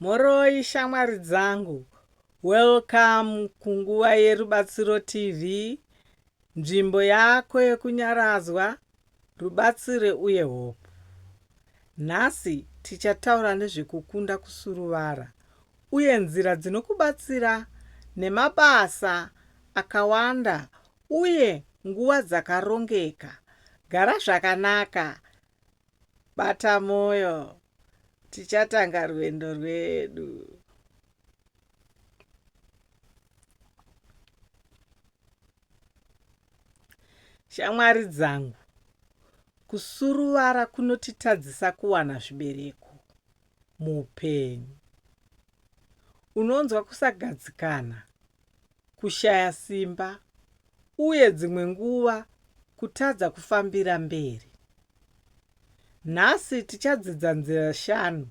Mhoroi shamwari dzangu, welcome kunguva yeRubatsiro TV, nzvimbo yako yekunyaradzwa, rubatsiro uye hope. Nhasi tichataura nezvekukunda kusuruvara uye nzira dzinokubatsira nemabasa akawanda uye nguva dzakarongeka. Gara zvakanaka Bata moyo tichatanga rwendo rwedu. Shamwari dzangu, kusuruvara kunotitadzisa kuwana zvibereko muupenyu. Unonzwa kusagadzikana kushaya simba, uye dzimwe nguva kutadza kufambira mberi. Nhasi tichadzidza nzira shanu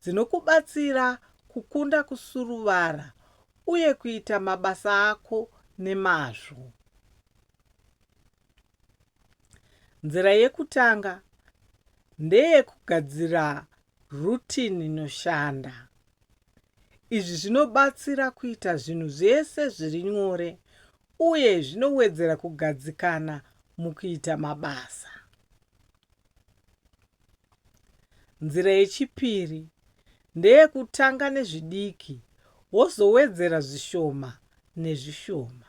dzinokubatsira kukunda kusuruvara uye kuita mabasa ako nemazvo. Nzira yekutanga ndeyekugadzira rutini inoshanda. Izvi zvinobatsira kuita zvinhu zvese zviri nyore uye zvinowedzera kugadzikana mukuita mabasa. Nzira yechipiri ndeyekutanga nezvidiki wozowedzera zvishoma nezvishoma.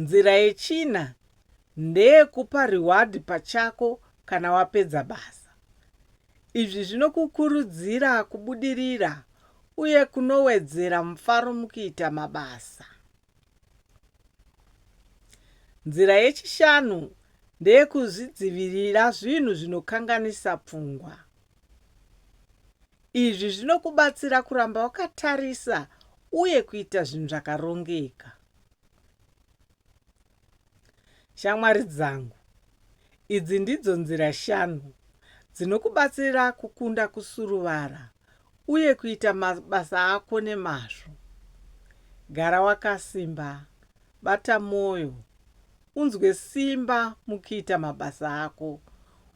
Nzira yechina ndeyekupa reward pachako kana wapedza basa. Izvi zvinokukurudzira kubudirira uye kunowedzera mufaro mukuita mabasa. Nzira yechishanu ndeyekuzvidzivirira zvinhu zvinokanganisa pfungwa. Izvi zvinokubatsira kuramba wakatarisa uye kuita zvinhu zvakarongeka. Shamwari dzangu, idzi ndidzo nzira shanu dzinokubatsira kukunda kusuruvara uye kuita mabasa ako nemazvo. Gara wakasimba, bata mwoyo, unzwe simba mukuita mabasa ako,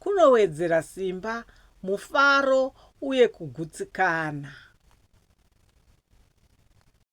Kunowedzera simba, mufaro uye kugutsikana.